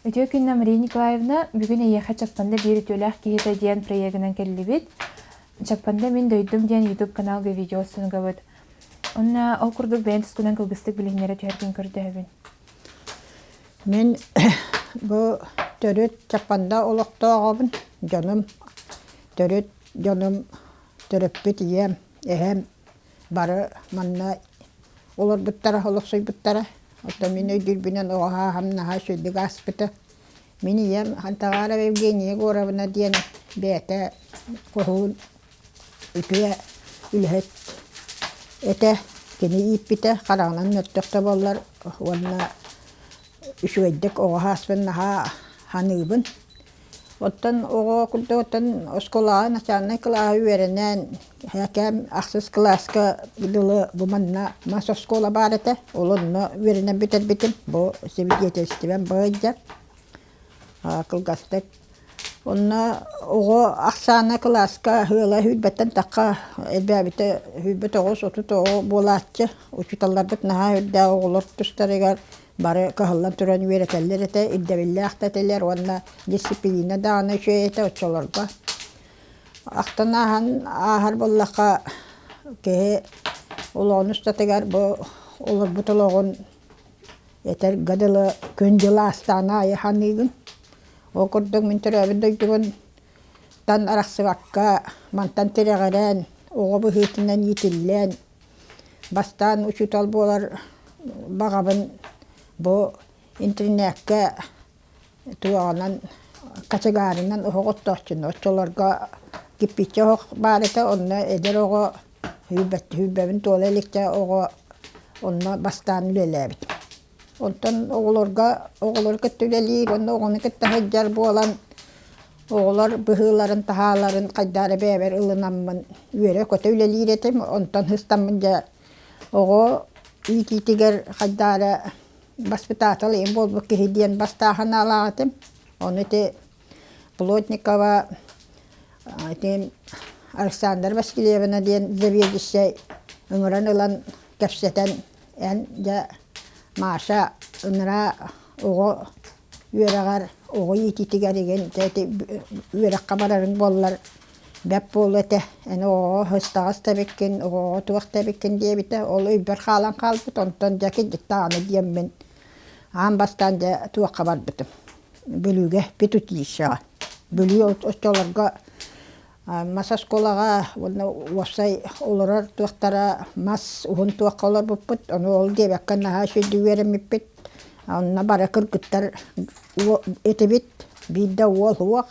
Үтүө күннэ Мария Николаевна, бүгүн эйиэхэ Чаппанда биир үтүөлээх киһитэ диэн проегынан кэллибит. Чаппанда мин дойдум диэн YouTube каналга видео устунугабыт. Онна ол курдук бэйэн тускунан кылгыстык билиһиннэрэ түһэргин көрдөһөбүн. Мен бу төрүт Чаппанда олохтооҕобун дьонум төрүт дьонум төрөппүт ийэм эһэм Бары манна олорбуттара, олохсуйбуттара. Оттон мин өйдүүрбүнэн оҕо һааһам-наһаа үчүгдүк ааспыта. Мин ийэм Хантаҕаара Евгения Егоровна диэн бэйэтэ хоһуун үтүө үлэһит этэ. Кини ииппитэ хараҕынан мөлтөх да буоллар уонна үчүгэйдик оҕо һааспын наһаа саныыбын. Оттон оҕо оттон оскуолаҕа начальнай кылааһы үөрэнэн кээм ахсыс кылааска дылы бу манна мас оскуола баар этэ ол онно үөрэнэн бүтэрбитим бу свидетельствам былайда кылгастык онно оҕо ахсаана кылааска ыала сүүрбэттэн тахха элбээбитэ сүүрбэт оҕус отут оҕо буолааччы учууталларбыт наһаа үрдээх оҕолор тустарыгар бары кыһаллан туран үөрэтэллэр этэ, ирдэбиллээх да этилэр уонна дисциплина даҕаны үчүгэй этэ оччолорго. Ахтан ааһан ааһар буоллахха киһи олоҕун устатыгар бу олорбут олоҕун этэргэ дылы күн дьыл аастаҕын аайы саныыгын. Ол курдук мин төрөөбүт дойдубунтан арахсыбакка мантан тирэҕирэн оҕо быһыытынан иитиллэн Бастаан учуутал буолар баҕабын бу интэринээккэ туоҕанан категорынан оһох оттооччуну оччолорго кирпииччэ оһох баар этэ онно эдэр оҕо сүүрбэбин туола иликчэ оҕо онно бастаан үлэлээбит Онтон оҕолорго, оҕолору кытта үлэлии уонна оҕону кытта сылдьар буолан оҕолор быһыыларын-таһааларын хайдары бэйэбэр ылынаммын үөрэ-көтө үлэлиир этим. Онтон ыстаммын дьэ оҕо иитиитигэр хайдары воспитатель эйэм буолбут киһи диэн бастаан санаалаах этим. Ону ити Плотникова итин Александра Васильевна диэн заведующай ыҥыран ылан кэпсэтэн эн дьэ Маша ыныраа оҕо үөрэҕэр оҕо иитиитигэр игин ити үөрэххэ барарыҥ буоллар бэрт буолуо этэ эн оҕоҕо ыстаҕас тэбиккин оҕоҕо туох тэбиккин диэбитэ ол өйбөр хаалан хаалбыт онтон дьэ кырдьык даҕаны диэммин аан бастаан дьэ туохха барбытым Бүлүүгэ педучилищеҕа. Бүлүү оччолорго мас оскуолаҕа уонна уопсай олорор туохтара мас уһун туохха олорбуппут, ону ол диэбэккэ наһаа үчүгэйдик үөрэммиппит. Онно бары кыргыттар этибит, биирдэ уол суох,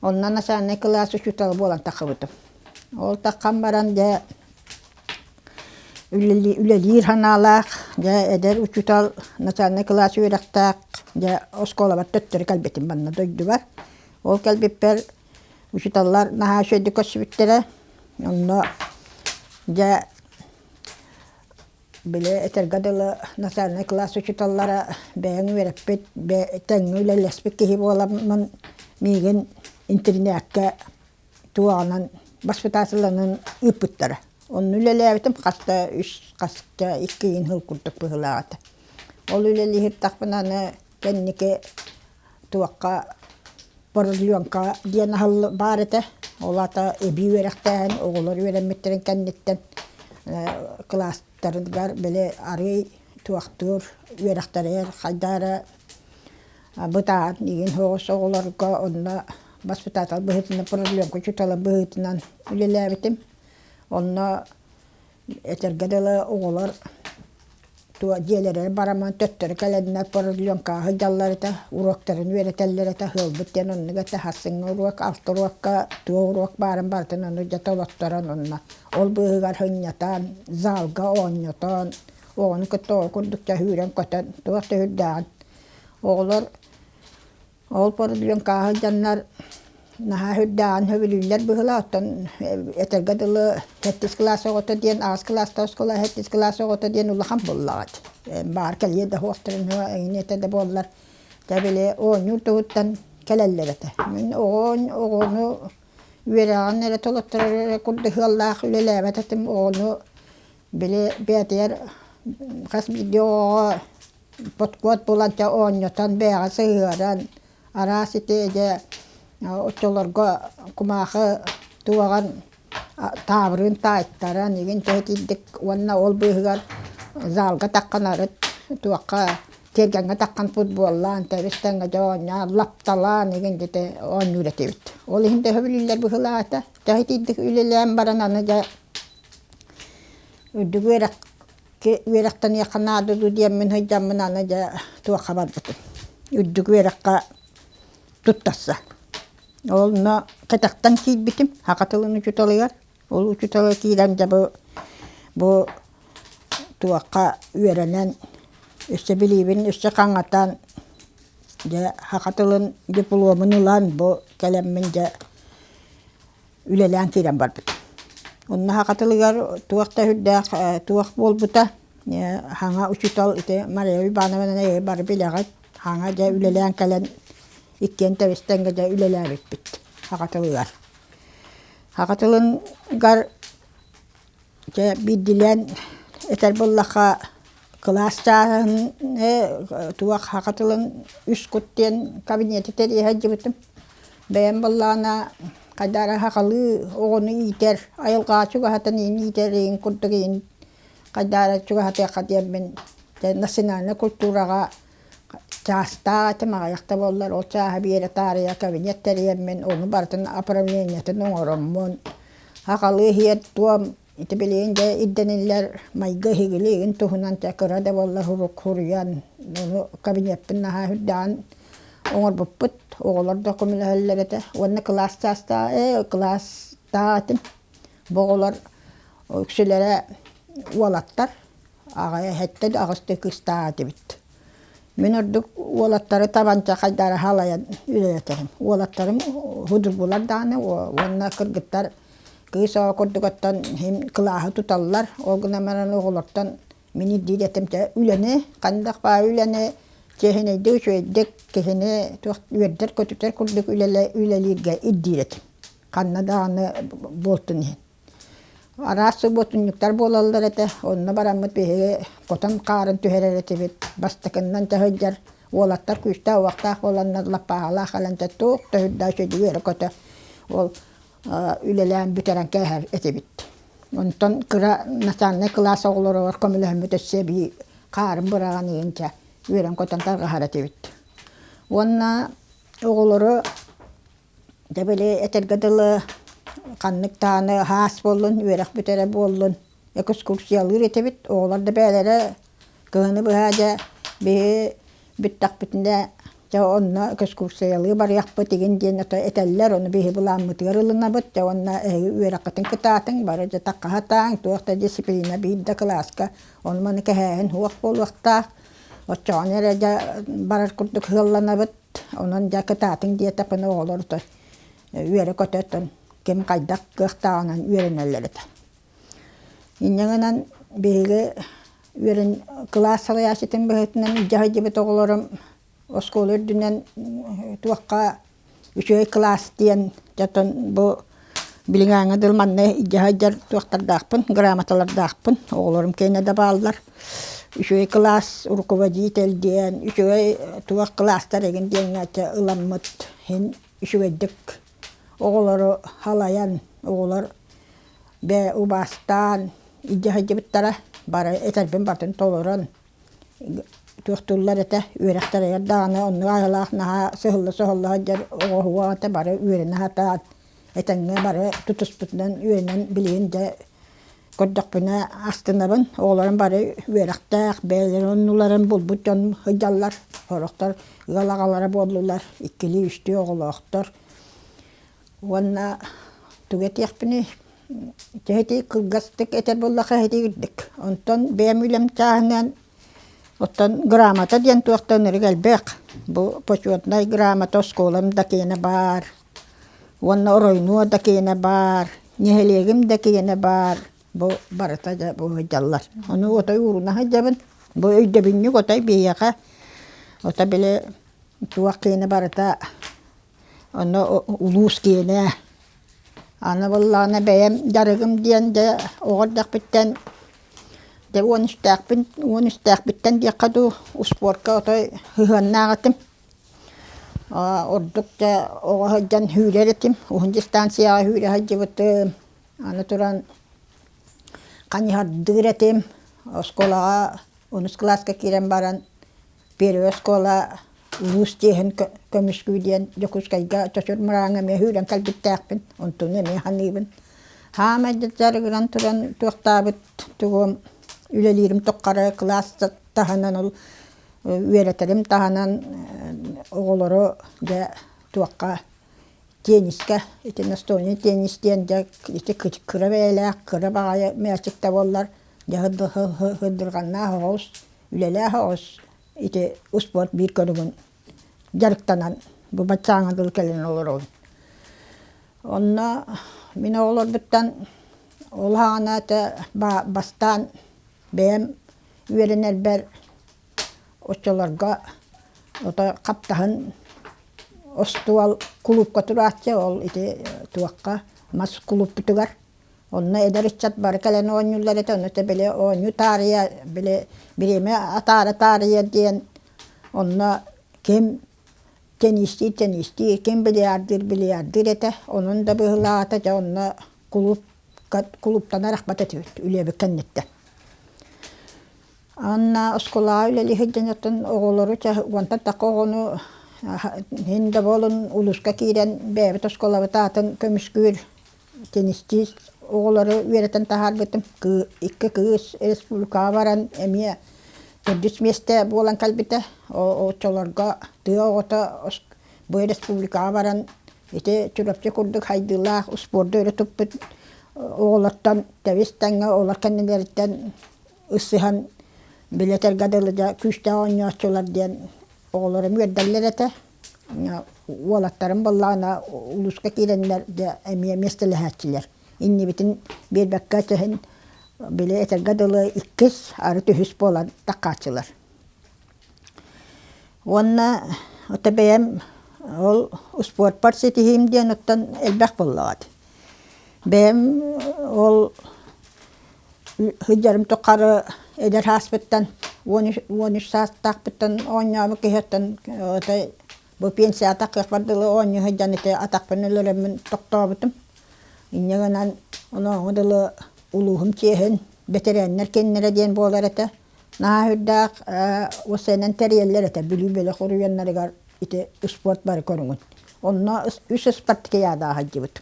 онно начальнай кылаас учуутала буолан тахсыбытым. Ол тахсан баран дьэ үлэлиир санаалаах дьэ эдэр учуутал начальнай кылаас үөрэхтээх дьэ оскуолабар төттөрү кэлбитим манна дойдубар ол кэлбиппэр учууталлар наһаа үчэйдик көрсүбүттэрэ онно дьэ били этэргэ дылы начальнай кылаас учууталлара бэйэҥ үөрэппит бэйэ тэҥҥэ үлэлэспит киһи буоламмын миигин интэринээккэ туоҕанан баспытаатыланан ыыппыттара. Онно үлэлээбитим хас да үс, хас да икки ыйын сыл курдук быһыылаах этэ. Ол үлэлиһиэхтээхпинэ аны кэнники туохха бородуйуоҥка диэн аһылл баар этэ. Ол аата эбии үөрэхтээһин оҕолор үөрэммиттэрин кэнниттэн кылаастарыгар били арыый туохтуур үөрэхтэригэр хайдаа эрэ Бытаат миигин соҕус оҕолорго онно воспитатель быһыытынан продленка учууталым быһыытынан үлэлээбитим. Онно этэргэ дылы оҕолор туо дьиэлэригэр бараман төттөрү кэлэннэр продленкаҕа сылдьаллар этэ, уруоктарын үөрэтэллэр этэ, сыалбыт диэн оннук этэ. Сарсыҥҥы уруок, алта уруокка туох уруок баарын барытын ону дьэ толотторон онно ол быыһыгар сынньатан, залга оонньотон, оҕону кытта ол курдук чөһүүрэн-көтөн туох да сүрдээҕин Оҕолор ол порудьуон кааһа сылдьаннар наһаа үрдээҕин сөбүлүүллэр быһыылаах, оттон этэргэ дылы сэттис кылаас оҕото диэн аҕыс кылаастаах оскуола, сэттис кылаас оҕото диэн улахан буоллаҕыт. Баар кэлиэ да суохтарын эҥинэтэ да буоллар дьэ били оонньуур туһуттан кэлэллэр этэ. Мин оҕону оҕону үөрэҕин эрэ толотторор эрэ курдук сыаллаах үлэлээбэт этим, оҕону Били бэйэтигэр хас биирдии оҕоҕо подкуот булан чэ оонньотон бэйэҕэ сыһыаран араас ити дьэ оччолорго кумаахы туоҕан таабырын таайтаран игин төһөтүйдүк уонна ол быыһыгар залга таххан арыт туохха тиэргэҥҥэ таххан футболлаан тэбис тэҥҥэ дьэ оонньоон лапталаан игин дьэти оонньуур этибит. Ол иһин төһө биллэр быһылаата төһөтүйдүк үлэлээн баран аны дьэ Үрдүкү үөрэххэ үөрэхтэниэххэ наада дуу диэммин сылдьаммын аны дьэ туохха барбытым үрдүкү үөрэххэ туттарса. Ол онно кэтэхтэн киирбитим саха тылын учууталыгар. Ол учуутала киирэн дьэ бу бу туохха үөрэнэн өссө билиибин өссө хаҥатан дьэ саха тылын дипломун ылан бу кэлэммин дьэ үлэлээн киирэн барбыт. Уннаһа хатылыгар туох да үрдээх туох буолбута хаҥа учуутал ити Мария Ивановнаны ээ бары билэҕит хаҥа дьэ үлэлээн кэлэн иккиэн тэбистэнгэ дьэ үлэлээбиппит хахатылыгар. Хахатылынгар Дьэ биирдиилээн этэр буоллахха кылаас чааһыныы туох саха тылын үс кут диэн кабинеты тэрийэ сылдьыбытым. Бэйэм буоллаҕына хайдах эрэ сахалыы оҕону иитэр айылҕаҕа чугаһатан иһин иитэриҥ курдук иһин хайдах эрэ чугаһатыахха диэммин дьэ национальнай культураҕа Чаастаах этим аҕыйах да буоллар ол чааһы биэрэ таарыйа кабинет тэрийэммин ону барытын управлениетын оҥороммун акалы иһиэр-туом ити билигин дьэ ирдэниллэр майгы эһигини игин туһунан чэ кыра да буоллар сурук суруйан ону кабинеппын наһаа үрдэҕин оҥорбуппут оҕолор да көмөлөһөллөр этэ уонна кылаас чаастаах ээ кылаастаах этим бу оҕолор үксүлэрэ уолаттар аҕай эһэттэн аҕыс да кыыстаах этибит мин ордук уолаттары табанча хайдара халайан үлэлэтэбин уолаттарым судургулар даҕаны уонна кыргыттар кыыс оҕо курдук оттон иһин кылааһы туталлар ол гынан баран оҕолортон мин ирдиир этим дьэ үлэни ханнык баар үлэни чиэһинэйдик үчүгэйдик киһини туох үөрдэр көтүтэр курдук үлэлииргэ ирдиир этим ханна даҕаны буолтун иһин Араас субуотунньуктар буолаллар этэ, онно бараммыт биһиги хотон хаарын түһэрэр этибит, бастакыннан да сылдьар, уолаттар күүстээх-уохтаах буоланнар лаппааһалаах кэлэнтэ туох да үрдээх үчүгэй эрэ көтө ол үлэлээн бүтэрэн кээһэр этибит. Онтон кыра начальнай кылаас оҕолоругар көмөлөһүммүт өссө эбии хаарын быраҕаныын дьэ үөрэн-көтөн тарҕаһар этибит. Уонна оҕолору Дьэ били этэргэ дылы ханнык даҕаны һаас буоллун, үөрэх бүтэрэ буоллун экскурсиялыыр этибит. Оҕолор да бэйэлэрэ кыһыны быһа дьэ биһи бүттэхпитинэ дьэ онно экскурсиялыы барыахпыт игин диэн этэллэр. Ону биһи былааммытыгар ылынабыт. Дьэ уонна эһиги үөрэххитин кытаатыҥ, бары дьэ такха сатааҥ. Туох да дьисциплина биир да кылааска ону-маны кэһээһин суох буолуохтаах. Оччоҕуна эрэ дьэ барар курдук сыалланабыт. Онон дьэ кытаатыҥ диэтэхпинэ оҕолор отон үөрэ-көтө отон ким хайдах кыахтааҕынан үөрэнэллэр этэ. Инньэ гынан биһиги үөрэн кылаас салайааччытын быһыытынан илдьэ сылдьыбыт оҕолорум оскуола үрдүнэн туохха үчүгэй кылаас диэн дьэ отон бу Билиҥээҥҥи дьыл манна илдьэ сылдьар туохтардаахпын, грамоталардаахпын, оҕолорум кэннэ да бааллар. Үчүгэй кылаас руководитель диэн, үчүгэй туох кылаастар игин диэҥҥээччи ыламмыт иһин үчүгэйдик оҕолору халайан, оҕолор бээ убаастаан илдьэ сылдьыбыттара. Бары этэрбин батын толорон туохтууллар этэ үөрэхтэр эдэр даҕаны оннук айылаах наһаа сыһылла-соһулла сылдьар оҕоһуо аҕата бары үөрэнэ сатаан этэҥҥэ бары тутуспутунан үөрэнэн билигин дьэ көрдөхпүнэ астынабын оҕолорум бары үөрэхтээх бэйэлэрин оннуларын булбут дьон сылдьаллар сорохтор ыал аҕалара буоллулар иккилии үстүү оҕолоохтор Уонна тугу этиэхпиний, эһитии кылгастык этэр буоллахха эһитии үрдүк. Онтон бэйэм үлэм чааһынан оттон грамота диэн туох да өнөрүг элбэх. Бу почетнай грамота оскуолам да киэнэ баар. Уонна оройнуо да киэнэ баар, нэһилиэгим да киэнэ баар. Бу барыта дьэ бу сылдьаллар. Ону отой ууруна сылдьабын. Бу өйдөбүнньүк отой биһиэхэ ото били туох киэнэ барыта Онно улуус киинэ аны буоллаҕына бэйэм дьарыгым диэн дьэ оҕо эрдэхпиттэн дьэ уон үстээхпин уон үстээхпиттэн диэххэ дуу успуорка отой сыһыаннаах этим ордук дьэ оҕо сылдьан сүүрэр этим уһун дистанцияҕа сүүрэ сылдьыбытым аны туран ханьыһардыыр этим оскуолаҕа онус кылааска киирэн баран Первый оскуола улуус чиэһин көмүскүү диэн Дьокуускайга Чочур Мырааҥҥа эмиэ сүүрэн кэлбиттээхпин, онтуну эмиэ саныыбын. Саамай да дьарыгыран туран туохтаабыт тугум үлэлиирим туххары кылаас таһынан ол үөрэтэрим таһынан оҕолору дьэ туохха теннискэ ити настольный теннис диэн дьэ ити кыра бэйэлээх кыра баҕайы мээчик да буоллар дьэ сдырганнаах оҕус Үлэлээх оҕус ити успуорт биир көрүҥүн дьарыктанан бу баччааҥҥа дылы кэлэн олоробун. Онно мин оҕолорбуттан ол аана этэ бастаан бэйэм үөрэнэрбэр оччолорго ото хаптаһын остуол кулуупка турааччы ол ити туохха мас кулууппутугар Онно эдэр ыччат бары кэлэн оонньууллар этэ, ону этэ били оонньуу таарыйа, били бириэмэ атаара-таарыйа диэн онно ким тенистиир-тенистиир, ким бильярдыыр-бильярдыыр этэ, онон да быһыылаата дьэ онно кулуупка кулууптанар ахмат этибит үлэбит кэнниттэн. Анна оскуолаҕа үлэлии сылдьан оттон оҕолору чэ уонтан такка оҕону иһин да буолун улууска киирэн бэйэбит оскуолабыт аатын көмүскүүр Тенистиир оҕолору үөрэтэн таһаарбытым. Кыы икки кыыс республикаҕа баран эмиэ төрдүс миэстэ буолан кэлбитэ. Оччолорго тыа оҕото бу республикаҕа баран ити Чурапчы курдук хайдыылаах успуорду өрө туппут оҕолортон тэбис-тэҥҥэ олор кэннилэриттэн ысыһан билэтэргэ дылы дьэ күүстээх оонньооччулар диэн оҕолорум үөрдэллэр этэ. уолаттарым буоллаҕына улууска киирэннэр дьэ эмиэ миэстэлэһээччилэр иннибитин биэрбэккэ өтөһөн били этэргэ дылы иккис арыт үһүс буолан таккааччылар уонна ото бэйэм ол успуорпар ситиһиим диэн оттон элбэх буоллаҕа Бэйэм ол сылдьарым тухары эдэр сааспыттан уон үс уон үс саастаахпыттан оонньообут киһиэхтэн этэй бу пенсията кыахпар дылы оонньуу сылдьан ити атахпын өлөрөммүн тохтообутум. Инньэ гынан онооҕу дылы улууһум чиэһин бэтэрээннэр киэннэрэ диэн буолар этэ. наһаа үрдээх ол сэнэн тэрийэллэр этэ Бүлүү бөлөх уруйуоннарыгар ити спорт бары көрүҥүн онно үс спартакиада сылдьыбыт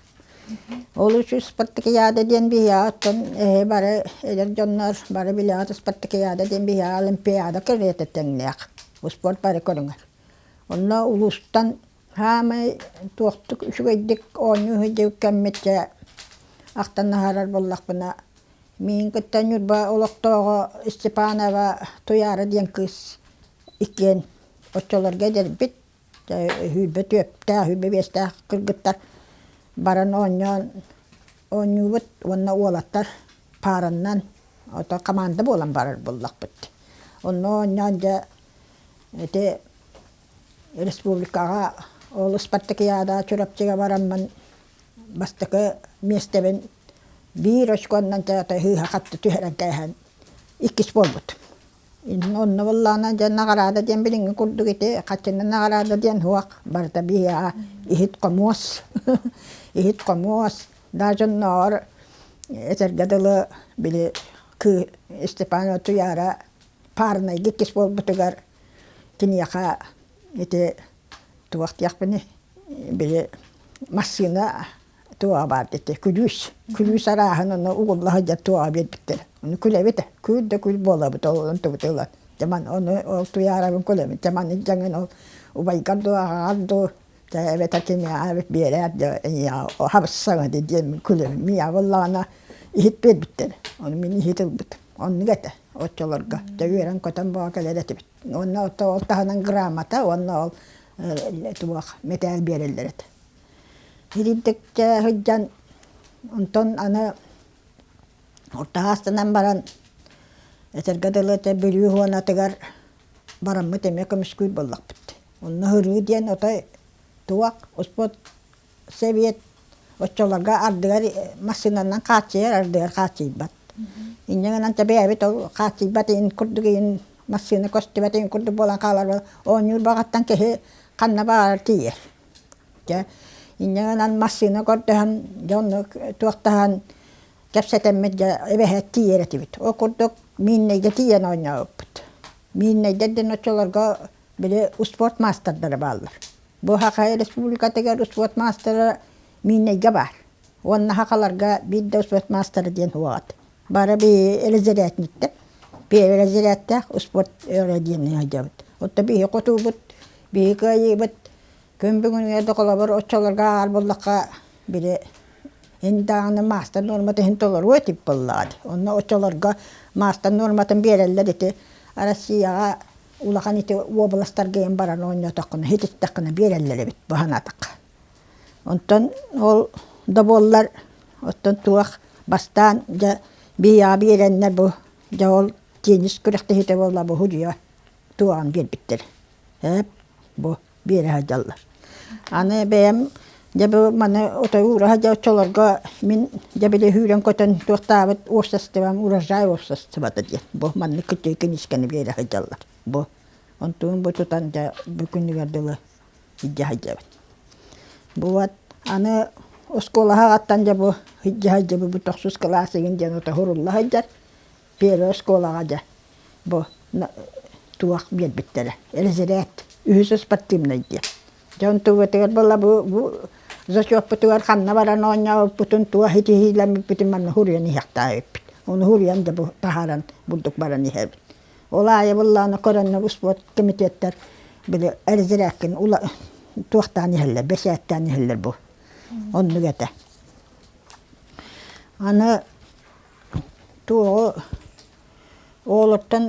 ол үс спартакиада диэн биһиэхэ оттон эһи бары эдэр дьоннор бары билэҕит спартакиада диэн биһиэхэ олимпиада кэриэтэ тэҥнээх спорт бары көрүҥэр онно улуустан Саамай туохтук үчүгэйдик оонньуу сылдьыбыт кэммитчэ ахтан аһарар буоллахпына миин кытта Ньурба олохтооҕо Степанова Туйаара диэн кыыс иккиэн оччолорго эдэрбит сүүрбэ түөрттээх сүүрбэ биэстээх кыргыттар баран оонньоон оонньуубут уонна уолаттар паараннан ото хамаанда буолан барар буоллахпыт онно оонньоон дьэ ити республикаҕа ол спартакиада Чурапчыга бараммын бастакы миэстэбин биир очконан театр сыыһа-хатта түһэрэн кээһэн иккис буолбут. Онно буоллаҕына дьэ наҕараада диэн билиҥҥи курдук ити хаччыны наҕараада диэн суох барыта биһиэхэ иһит-хомуос иһит-хомуос даже оннооҕор этэргэ дылы били Степан Утуйаара паарнайга иккис буолбутугар Киниэхэ ити туох диэхпиний, били массыына туоҕа баар ити күлүүс, күлүүс арааһын ону угулла сылдьар туоҕа биэрбиттэрэ. Ону күлэбитэ, күл да күл буолабыт ол онтубут ылан. Дьэ маны ону ол туйаарабын күлэбин. Дьэ маны дьаҥын ол убайгар дуу, аҕаҕар дуу дьэ эбэтэр киниэхэ эбит биэрээр дьэ эйиэхэ хабыссаҥа дии диэн күлэбин. Миэхэ ыллаҕына иһит биэрбиттэрэ. Ону мин иһит ылбытым. Оннук этэ. оччолорго да үөрэн-көтөн буола кэлэр этибит. Уонна ол таһынан грамота уонна ол туох мэтээл биэрэллэр этэ. Илиитиккэ сылдьан онтон аны орто аастанан баран этэргэ дылы этэ Бүлүү Хуонатыгар бараммыт эмиэ көмүскүүр буоллахпыт. Онно һырыы диэн отой туох успуот Сэбиэт оччолорго ардыгар массыынанан хааччыйар, ардыгар хааччыйбат. Инньэ гынан бэйэбит ол хааччыйбат иһин курдук иһин массыына көстүбэт иһин курдук буолан хаалар оонньуур баҕаттан киһи ханна баҕарар тиийэр. Дьэ инньэ гынан массыына көрдөһөн дьонну туохтаһан кэпсэтэммит дьэ эбэһээт тиийэр этибит. Ол курдук Миирнэйгэ тиийэн оонньообуппут. Миирнэйдэр диэн оччолорго били успуорт маастардара бааллар. Бу Хахай Республикатыгар успуорт маастара Мииннэйгэ баар. Уонна Хахаларга биир да успуорт маастара диэн уоҕат. Бары биһи разрядниктар. Биһи разрядтаах успуорт диэн өйдөбүт. Оттон биһи хотуубут, биһи кыайыыбыт Күн бүгүнүгэр да холобур оччолорго ааҕар буоллахха били ин даҕаны маастар нуормата иһин толоруо этибит буоллаҕа дии. Онно оччолорго маастар нуорматын биэрэллэр ити. Россияҕа улахан ити уобаластарга ийэн баран оонньоотоххуна, иһититтэххинэ биэрэллэр эбит бу санаатахха. Онтон ол да буоллар оттон туох бастаан дьэ БИА биэрэннэр бу дьэ ол теннис күрэхтэһиитэ буолла бу судьуйа туоҕан биэрбиттэр. Ээп бу биэрэһэ дьаллар. Аны бэйэм дьэ бу маны отой уура сылдьа оччолорго мин дьэ били сүүрэн көтөн туохтаабыт уопсастыбам урожай уопсастыбата диэн бу маннык кыччыы киниискэни биэрэ сылдьаллар бу онтубун бу тутан дьэ бу күнүгэр дылы илдьэ сылдьабын. Бу вот аны оскуолаҕа аттан дьэ бу илдьэ сылдьабын бу тохсус кылаас игин диэн ото сурулла сылдьар Первай оскуолаҕа дьэ бу туох биэрбиттэрэ резерээт үһүс спортивнай диэн. Дьэ онтубутугар была бу бу зачетпутугар ханна баран оонньооппутун туох итиһиилэммиппитин манна суруйан иһиэхтээх эбиппит. Ону суруйан дьэ бу таһааран бурдук баран иһэбит. Ол аайы быллааны көрөннө успуорт комитеттар били резерээккин ула туохтаан иһэллэр бэсээттээн иһэллэр бу оннук этэ. Аны Туоҕу оҕолортон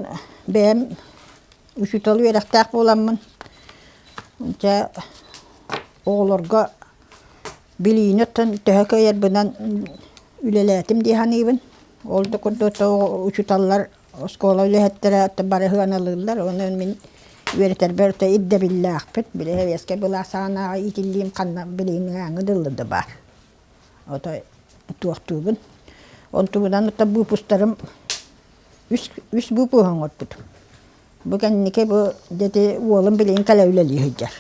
бэйэм учуутал үөрэхтээх буоламмын, дьэ оҕолорго билиини оттон төһө кыайарбынан үлэлээтим дии саныыбын. Ол да курдук учууталлар оскуола үлэһиттэрэ бары сыаналыыллар, онон мин үөрэтэрбэр орто ирдэбиллээхпин, били сэбиэскэй былаас саҕанааҕы иитиллиим ханна билиимээҥҥэ дылы да баар. Ото туохтуубун. Ол туһунан ото буупустарым үс үс буупуһу оҥорбутум. Бу кэнники бу ити уолум билигин кэлэ үлэлии сылдьар.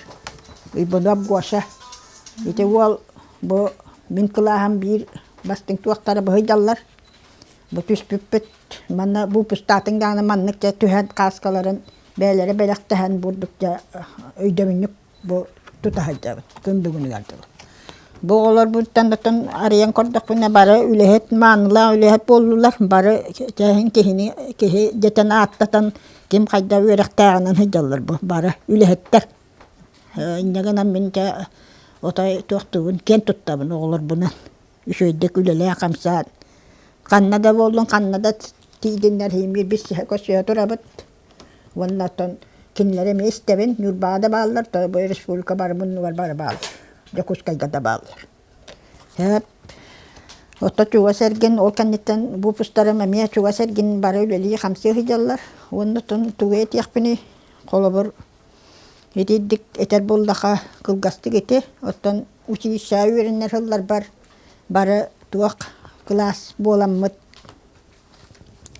Иванов Гоша. Ити уол бу мин кылааһым биир бастыҥ туохтара бу сылдьаллар. Бу түспүппүт манна буупустаатын даҕаны маннык дьэ түһэн кааскаларын бэйэлэрэ бэлэхтэһэн бурдук дьэ өйдөбүнньүк бу тута сылдьабыт күн бүгүнүгэр дылы бу оҕолорбуттан оттон арыйан көрдөхпүнэ бары үлэһит маанылаах үлэһит буоллулар бары чээһин киһини киһи дэтэн ааттатан ким хайда үөрэхтээҕинэн сылдьаллар бу бары үлэһиттэр инньэ гынан мин дьэ отой туохтуубун киэн туттабын оҕолорбунан үчүгэйдик үлэлээн хамсаан ханна да буоллун ханна да тиийдиннэр биир көсүһэ турабыт Уонна оттон кинилэри эмиэ истэбин, Ньурбаҕа да бааллар, бу республика бары муннугар бары бааллар. Дьокуускайга да бааллар. Һээп Отто чугас эргин ол кэнниттэн буупустарым эмиэ чугас эргин бары үлэлии-хамсыы сылдьаллар. Уонна оттон тугу этиэхпиний, холобур, итиитик этэр буоллахха, кылгастык ити, оттон училищеҕа үөрэнэр сылларбар бары туох кылаас буоламмыт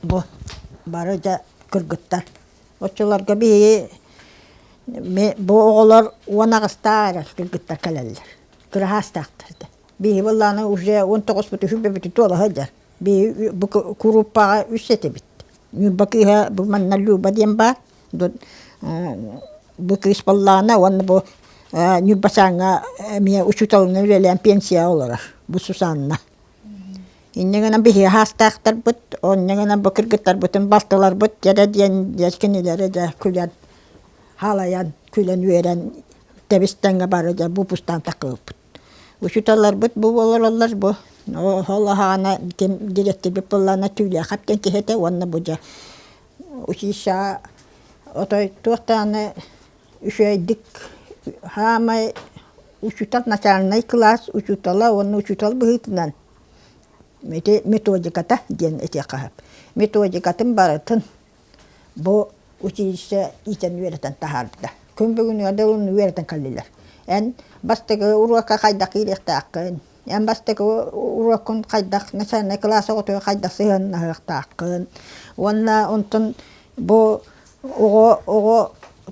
бу бары дьэ кыргыттар. Оччолорго биһиги ми бу оҕолор уон аҕыстаары кыргыттар кэлэллэр. Кыраһаастаахтар этэ. Биһиги былааны уже уон тоҕуспут үһү бүбүтү туолаһа дьар. Биһиги бу курууппаҕа үс этибит. Ньурба кыыһа бу манна Люба диэн баар. Бу кыыс баллаҕана уонна бу Ньурба Чааҥҥа эмиэ учууталынан үлэлээн пенсияҕа олорор. Бу Сусанна. Инньэ гынан биһиги хаастаахтарбыт, онно гынан бу кыргыттарбытын балтыларбыт дьэдэ диэн дьэс кинилэри дьэ күлэн хаалайан, күлэн-үөрэн тэбис-тэҥҥэ бары дьэ буупустаан такыыппыт. Учууталларбыт бу олороллор бу ол аһаана ким дириэктирбит быллаана Түүлээхап диэн киһи этэ уонна бу дьэ училищеҕа отой туох даҕаны үчүгэйдик саамай учуутал начальнай кылаас учуутала уонна учуутал быһыытынан ити методиката диэн этиэххэ сөп методикатын барытын бу училище иитэн үөрэтэн таһаарбыта күн бүгүн да уонна үөрэтэн кэллилэр эн бастакы уруокка хайдах киириэхтээххин Эн бастакы уруоккун хайдах, начальнай кылаас оҕотугар хайдах сыһыаннаһыахтааххын уонна онтон бу оҕо оҕо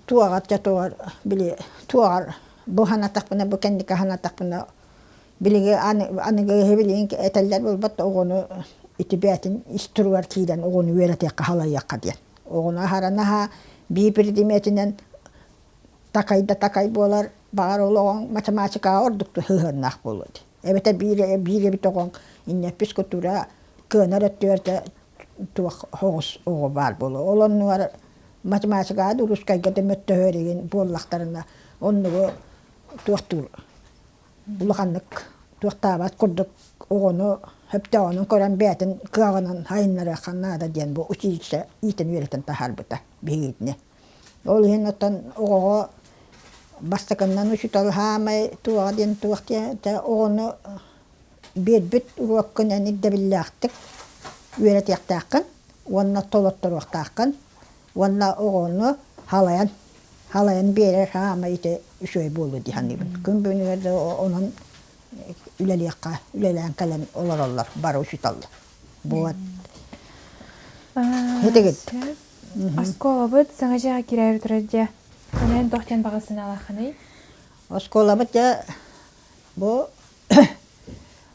туоҕар били туоҕар бу санатахпына бу кэнники санатахпына билиги аныгы киһи билигин этэллэр буолбат оҕону ити бэйэтин ис туругар киирэн оҕону үөрэтиэххэ халайыахха диэн оҕону аһара наһаа биир предметинэн такай да такай буолар баҕар ол оҕоҥ математикаҕа ордук да сыһыаннаах буолуо дии эбэтэр биир биир эбит оҕоҥ иннэппис кутура кыанар өттүгэр да туох соҕус оҕо баар буолуо ол оннугар математикаҕа да русскайга да мөттөһөр игин буоллахтарына оннугу туохтуур улаханнык туохтаабат курдук оҕону сөптөөҕүнэн көрөн бэйэтин кыаҕынан сайыннарыахха наада диэн бу училище иитэн үөрэтэн таһаарбыта биһигини Ол иһин оттон оҕоҕо бастакыннан учуутал саамай туоҕа диэн туох диэ этэ оҕону биэрбит уруоккунан ирдэбиллээхтик үөрэтиэхтээххин уонна толотторуохтааххын уонна оҕону халайан халайан биэрэр саамай ити үчүгэй буолуо дии саныыбын. Күн бүгүнүгэр да онон үлэлиэххэ үлэлээн кэлэн олороллор бары учууталлар. буолат итигит оскуолабыт саҥа дьиэҕэ киирээри турар дьэ аны эн туох диэн баҕасынаалаххыный оскуолабыт дьэ бу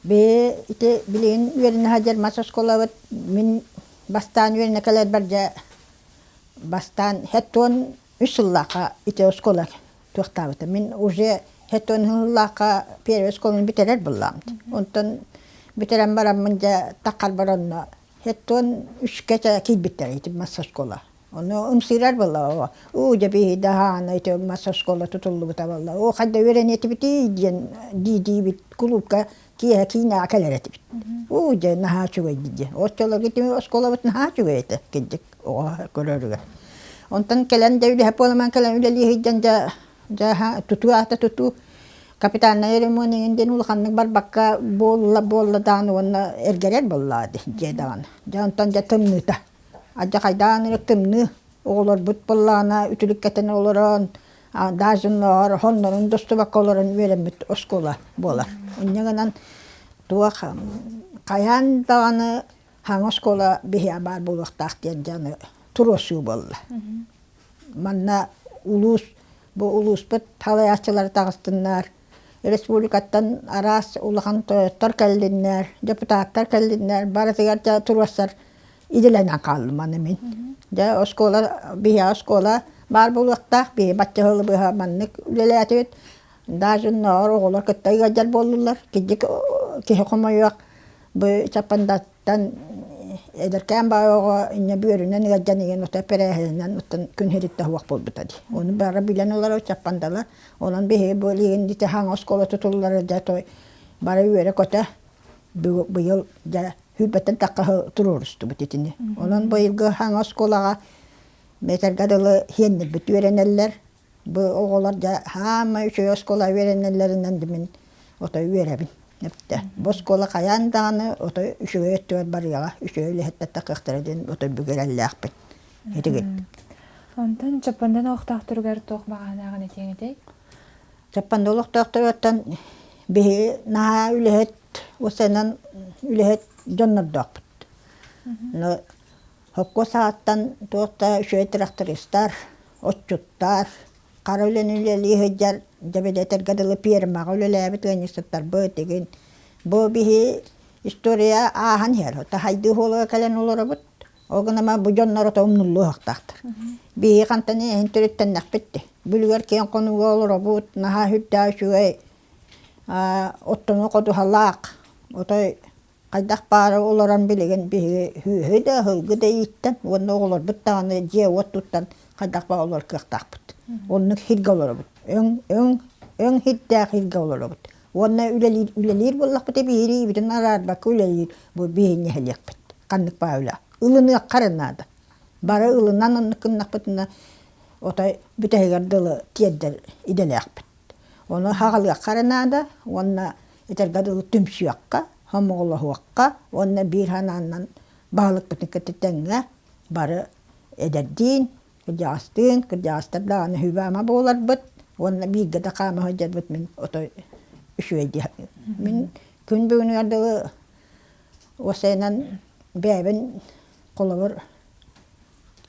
бэйи ити билигин үөрэнэ сылдьар мас оскуолабыт мин бастаан үөрэнэ кэлэрбэр дьэ бастаан хэт уон үс сыллаахха ити оскуола туохтаабыта. Мин уже хетон хынылаахха первый оскуоланы бүтэрэр буллаамт. Онтон бүтэрэн бараммын дьэ таххарбар онно хетон үшкэ киирбиттэр итим массоскуола. Ону ымсыырар буолла. Уу дьэ биһиги даһаана ити массоскуола тутуллубута буолла. Оо ханна үөрэниэтибитий диэн дии-диибит кулуупка киэһэ киинэҕэ кэлэр этибит уу дьэ наһаа үчүгэй дии оччолоргутун оскуолабыт наһаа үчүгэй этэ кырдьык оҕо көрөрүгэр онтон кэлэн да үлэһит буоламмын кэлэн үлэлии сылдьан дьэ дьааһа тутуу аата тутуу капитальнай ремонт эҥин диэн улаханнык барбакка буолла буолла даҕаны уонна эргэрэр буоллаа дии дьиэ даҕаны дьэ онтон дьэ тымныыта адьахайдаан эрэ тымныы оҕолорбут буоллаҕына үтүлүк кэтэн олорон Дажуннар хоннорун достубакка олорон үөрэммит оскуола буолар. Инньэ гынан туох хайаан даҕаны хаҥа оскуола биһиэхэ баар буолуохтаах диэн дьаны туруосуу буолла. Манна улуус бу улууспут салайааччылара таҕыстыннар Республикаттан араас улахан тойоттор кэллиннэр, депутаттар кэллиннэр, барытыгар дьэ туруорсар идэлэнэн хааллым аны мин. Дьэ оскуола, биһиэхэ оскуола баар буолуохтаах, биһиги бачча сылы быһа маннык үлэлээтибит. Дажуннар оҕолор кытта ыалдьар буоллулар, киһи хомойуох, бу Чаппандат Оттон эдэркээн баҕа оҕо инньэ бүөрүнэн ыалдьан ийэн ото эпэрээһининэн оттон күн иһириттэ оһуох буолбута дии. Ону бары билэн олорор чаппандалар. Онон биһиги бу билигин ити хаҥа оскуола тутуллара дьэ той бары үөрэ-көтө бу быйыл дьэ сүүрбэттэн такkaһы туруорустубут итини. Онон быйылгы хаҥа оскуолаҕа этэргэ дылы сиэннэрбит үөрэнэллэр. Бу оҕолор дьэ хаамай үчүгэй оскуола үөрэнэллэринэн да мин отой үөрэбин эрдэ. Бу оскуола хайаан даҕаны отой үчүгэй өттүгэр барыаҕа, үчүгэй үлэһиттэр кыахтара диэн отой бүгүрэллээхпин. Итигит. Онтон Чаппандан олохтоохторугар туох баҕаһынааҕын этиэҥ этэй? Чаппанда олохтоохторуттан биһиги наһаа үлэһит, ол саҕанан үлэһит дьоннордоохпут. Но Окко сааттан туох да үчүгэй тырахтарыстар, отчуттар, хара үлэни үлэлии сылдьар, дьэбэдэтэргэ дылы пиэрмэҕэ үлэлээбит ыанньыксыттарбыт игин бу биһи история ааһан иһэр. Ото хайдыы уһуолуга кэлэн олоробут, ол гынан баран бу дьоннор ото умнуллуохтаахтар. Биһиги хантан иһин төрүттэннэхпит дии. Бүлүгэр киэҥ хонууга олоробут, наһаа үрдээх үчүгэй, оттону ходуһалаах, отой хайдах баара олорон билигин биһиги сүөһү да аһылгы да ииттэн уонна оҕолорбут даҕаны дьиэ-уот туттан хайдах баҕа олор кыахтаахпыт. Оннук сиргэ олоробут. Өҥ өҥ өҥ сирдээх сиргэ олоробут. Уонна үлэлиир үлэлиир буоллахпытына биһириибитин араарбакка үлэлиир бу биһинньэһэлиэхпит. Ханнык баһыылаах. Ылыныахха эрэ наада. Бары ылынан оннук гыннахпытына отой бүтэһигэр дылы тиэрдэр идэлээхпит. Ону хаҕылыахха эрэ наада уонна этэргэ дылы түмсүөххэ, хомоҕолоһуохха уонна биир санааннан баһылыкпытын кытта тэҥҥэ бары эдэрдиин, кырдьаҕастыын, кырдьаҕастар даҕаны сүбэ-ама буоларбыт уонна бииргэ да хаама сылдьарбыт мин отой үчүгэйдии мин күн бүгүнүгэр дылы уопсайынан бэйэбин холобур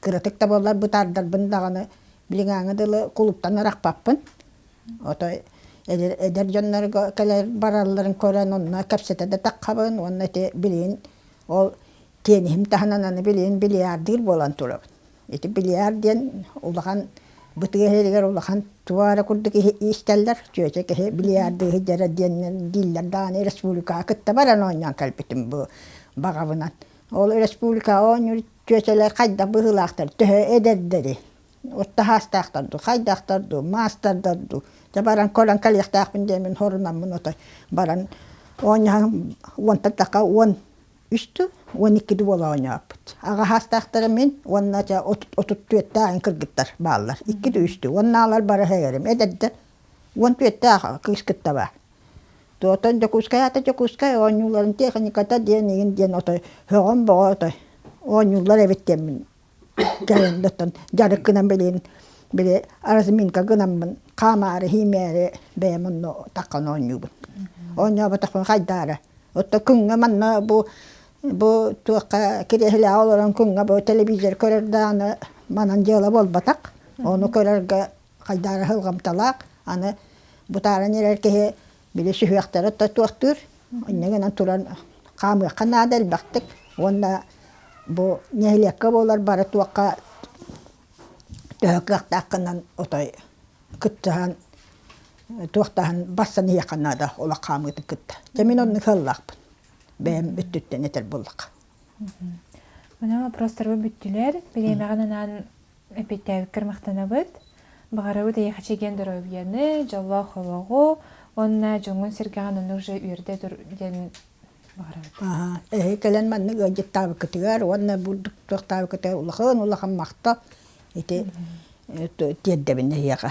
кыратык да буоллар бытаардарбын даҕаны билиҥҥээҥи дылы кулуптан арахпаппын Ото эдэр дьоннорго кэлэр баралларын көрөн онно кэпсэтэ да таххабын уонна ити билигин ол тиэниһим таһынан аны билигин бильярдыыр буолан турабын. Ити бильярд диэн улахан бытыгас иһигэр улахан туох эрэ курдук иистэллэр чүөчэ киһи бильярдыы сылдьара диэнинэн дииллэр даҕаны республикаҕа кытта баран оонньоон кэлбитим бу баҕабынан. Ол республикаҕа оонньуур чүөчэлэр хайдах быһыылаахтар төһө эдэрдэрий? От таһаастаахтар дуу, хайдаахтар дуу, маастардар дуу. Дьэ баран көрөн кэлиэхтээхпин диэн мин хорунаммын отой баран оонньоһон уонтатахха уон үс да уон икки да буола оонньооппут. Аҕаһаастаахтара мин уонна чэ отут түөртээҕин кыргыттар бааллар. Икки да үс да уоннаалар бары эһэйэрим эдэрдэр уон түөртээх кыыс кытта баар. Оттон Дьокуускайаата Дьокуускай оонньууларын техниката диэн иһин диэн отой өҕөн-бөҕө отой оонньууллар эбит диэн мин дьайан дьарык гынан билигин били разминка гынаммын хаамаары иһимээри бэйэм онно такхан оонньуубун оонньооботохпуна хайдаары отто күҥҥэ манна бу бу туохха кириэһилээҕи олорон күҥҥэ бу телевизор көрөр даҕаны манан дьыала буолбатах ону көрөргө хайдаары аһылҕамталаах аны бутааран эрэр киһи били сүһүөхтэрэ тотуохтуур инньэ гынан туран хаамыахха наада элбэхтик уонна бу нэһилиэккэ буолар бары туохха төһө кыахтааххынан отой кыттыһан туохтаһан барсан иһиэххэ наада олох хаамыытын кытта дьэ мин оннук сыаллаахпын бэйэм өттүттэн этэр буоллахха Мына вопростарга бүттүлэр. Бириэмэҕин анаан эпитээбиккэр махтанабыт. Баҕарабыт эйэхичи диэн доруобуйаны, дьоллоох олоҕу уонна дьоҥҥун сэргэҕин аны уже үөрдэ тур диэн баҕарабыт. Аһа, эһи кэлэн маннык ыалдьыттаабыкытыгар уонна булдуктуохтаабыкытыгар улахан улахан махтал. Ити тиэрдэбин эһиэхэ.